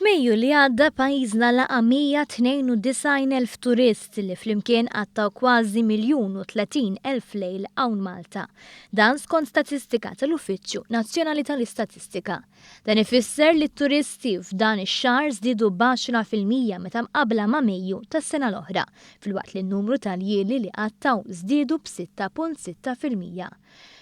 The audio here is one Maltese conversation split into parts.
F'Mejju li għadda pajjiżna laqa' 192,000 turist li flimkien qattaw kważi miljun u 30 elf lejl hawn Malta. Dan skont statistika tal-Uffiċċju Nazzjonali tal-Istatistika. Dan ifisser li t-turisti f'dan ix-xahar żdiedu b'għaxra fil-mija meta mqabbla ma' Mejju tas-sena l-oħra, filwaqt li n-numru tal-jieli li qattaw żdiedu b'6.6 fil-mija.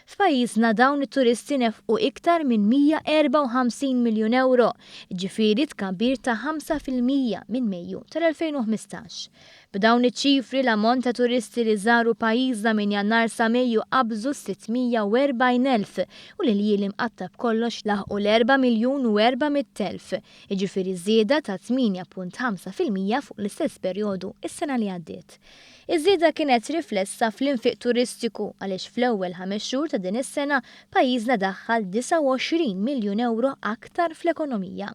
F'pajjiżna dawn it-turisti nefqu iktar minn 154 miljun ewro, jiġifieri tkabbir ta' ħamsa fil-mija minn Mejju tal-2015. B'dawn iċ-ċifri l-ammont ta' turisti li żaru pajjiżna minn Jannar sa Mejju qabżu s-640 elf u l-iljieli mqatta' b'kollox laħqu l-erba' miljun u erba' mitt elf, jiġifieri żieda ta' tmienja punt ħamsa fil-mija fuq l-istess perjodu s-sena li għaddiet. Iż-żieda kienet riflessa fl-infiq turistiku għaliex fl-ewwel ħames xhur ta' din is-sena pajjiżna daħħal 29 miljun ewro aktar fl-ekonomija.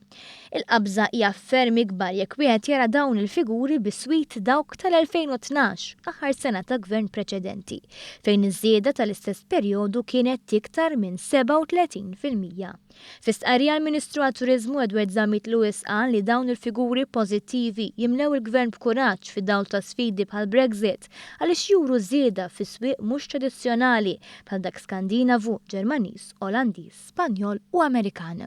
Il-qabża hija ferm ikbar jekk wieħed jara dawn il-figuri biswit dawk tal-2012, aħħar sena ta' Gvern preċedenti, fejn iż-żieda tal-istess perjodu kienet iktar minn 37 fil-mija. Fi stqarrija l-Ministru għat-Turiżmu Edward Zammit Lewis qal li dawn il-figuri pożittivi jimlew il-Gvern b'kuraġġ fid-dawl ta' sfidi bħall-Brexit għaliex juru żieda fi swieq mhux tradizzjonali bħal dak Skandinavu, Ġermaniż, Olandiż, Spanjol u Amerikan.